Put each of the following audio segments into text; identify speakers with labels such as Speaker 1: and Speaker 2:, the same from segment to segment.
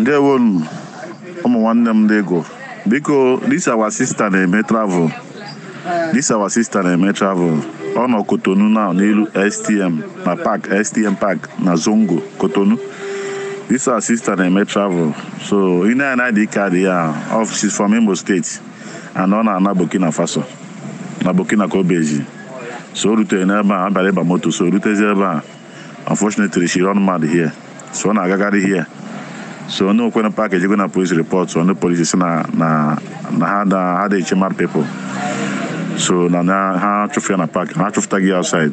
Speaker 1: ndewonụ ụmụ nwanne m ndị Igbo biko this our sister na-eme travel this our sister na-eme travel ọ nọ Kotonu now n'elu STM na park STM park na Zongo Kotonu this our sister na-eme travel so ị nene ID kaadị ya she's from Imo State and ọ na-ana Burkina Faso na Burkina ka o bizi so o rutere n'ebe a abịara ịba moto so o rutezi ebe a unfortunately she run mad here so ọ na-agagharị here so ndị nwe pak ejego na polis repọt ndị polisi sị na na na ha da ha da eche mad people so na na ha chụfụ ya na pak ha chụfụtago ya outside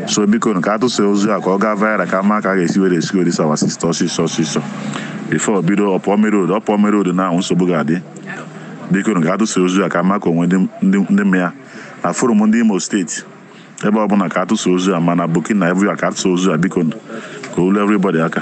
Speaker 1: so biko nụ ka a tụsa ozi a ka ọ gaa viral ka a ma ka a ga-esi were esi were save our sister ọsịsọ ọsịsọ bifo bido ọ pụọ main road ọ pụọ main road now nsogbu ga-adị biko nụ ka a tụsa ozi a ka a ma ka o nwe ndị ndị ndị ma ya na forum ndị imo steeti ebe ọbụna ka a tụsa ozi a ma na Burkina everywhere ka a tụsa ozi a biko ka o lu everybody aka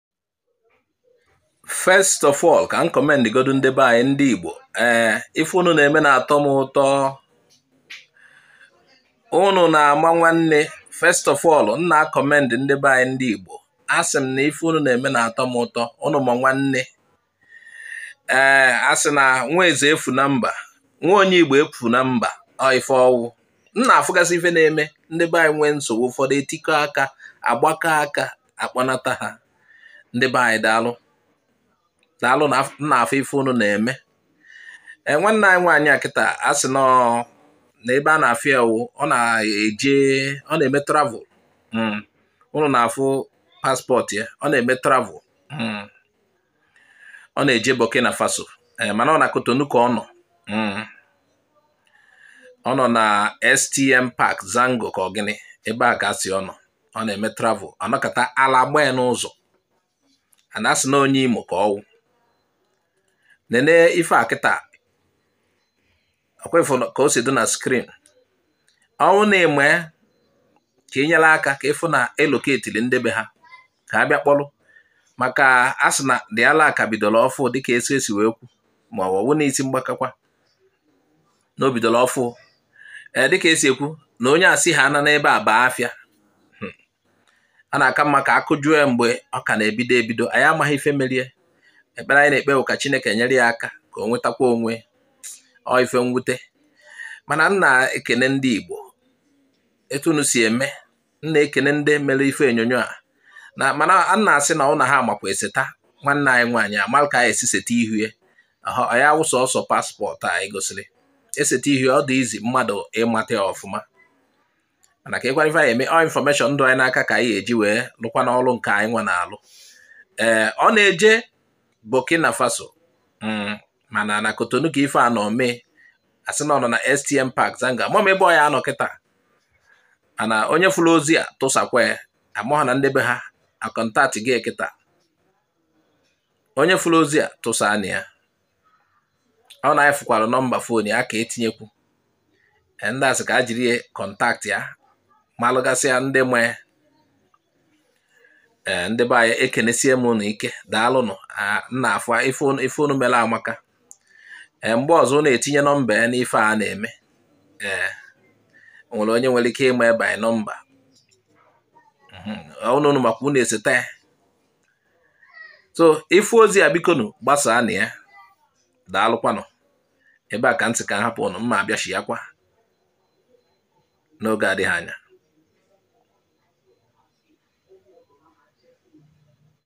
Speaker 2: first of all ka m kọmend godu ndị be anyị ndị Igbo ee eh, ife unu na-eme na-atọ m ụtọ unu na-ama nwanne first of all m na-akọmend ndị be anyị ndị Igbo asị m na ife unu na-eme na-atọ m ụtọ unu ma nwanne ee eh, a sị na nwa eze efu na mba nwa onye igbo efu na mba ọ ife ọ wụ m na-afụgasị ife na-eme ndị be anyị nwee nsogbu ụfọdụ etikọ aka agbakọ aka akpọnata ha ndị be anyị daalụ daalụ m na-afụ ife unu na-eme ee eh, nwanne anyị nwaanyị a kịta a sị na ebe a na-afụ ya wụ ọ na-eje ọ na-eme travel hmm. unu na-afụ paspọtụ ya ọ na-eme travel hmm. ọ na-eje Burkina Faso eh, mana ọ na Kotonu ka ọ nọ hmm. ọ nọ na STM Park Zango ka ọ gịnị ebe a ka a sị ọ nọ ọ na-eme travel a nọkata ala gbaa ya n'ụzọ a na-asị na onye Imo ka ọ wụ nene ife a kịta ọkwa ị fụ ka o si dị na skrin ọ wụ na-eme ka e nyere aka ka a fụ na e loketiri ndị be ha ka a bịa kpọrọ maka a sị na the ala a ka bidoro ọfụụ dịka esi esi wee kwu ma ọ bụ na isi mgbakakwa na o bidoro ọfụụ ee dịka esi ekwu na onye asị ha ana n'ebe a baa afịa hmm. a na-aka mma ka a kụjụọ ya mgbe ọ ka na-ebido ebido anyị amaghị ife mere ya ekpere anyị na-ekpe ka Chineke nyere ya aka ka o nwetakwa onwe ọ ife mwute mana m na-ekene ndị Igbo etu unu si eme m na-ekene ndị mere ife onyonyo a na mana m na-asị na ụnụ amakwa eseta nwanne anyị nwaanyị amalụ ka anyị esi seta ihu ya ya wụ sọsọ passport anyị gosiri eseta ihu ọ dị easy mmadụ ịmata ya ọfụma mana ka ịgwara ife anyị eme ọ information dị anyị n'aka ka anyị eji wee lụkwanụ ọrụ nke anyị nwa na-alụ ee ọ na-eje Burkina Faso mm, mana na Cotonou ka ife a nọ mee a sị na ọ nọ na STM Park Zanga amarọ m ebe ọ ya-anọ kịta mana onye fụrụ ozi a tụsakwa ya amụ ha na ndị be ha akọntatigo ya kịta onye fụrụ ozi a tụsaanụ ya ọ na anyị fụkwara nọmba phone ya ka e tinyekwu e, ndị a sị ka e jiri contact ya malụgasịa ndị nwe e, ndị be anyị ekenesie m ụnụ ike daalụnụ nna afọ ife unu mere amaka e, mgbe ọzọ unu etinye nọmba ya n'ife a na-eme ee nwere onye nwere ike ịma ebe anyị nọmba ụnụ ụnụ mhm, maka unu eseta ya so ị fụ ozi a bikonu gbasaanụ ya daalụkwanụ ebe a ka m sị ka m hapụ ụnụ m ma-abịachighakwa n'oge adịghị anya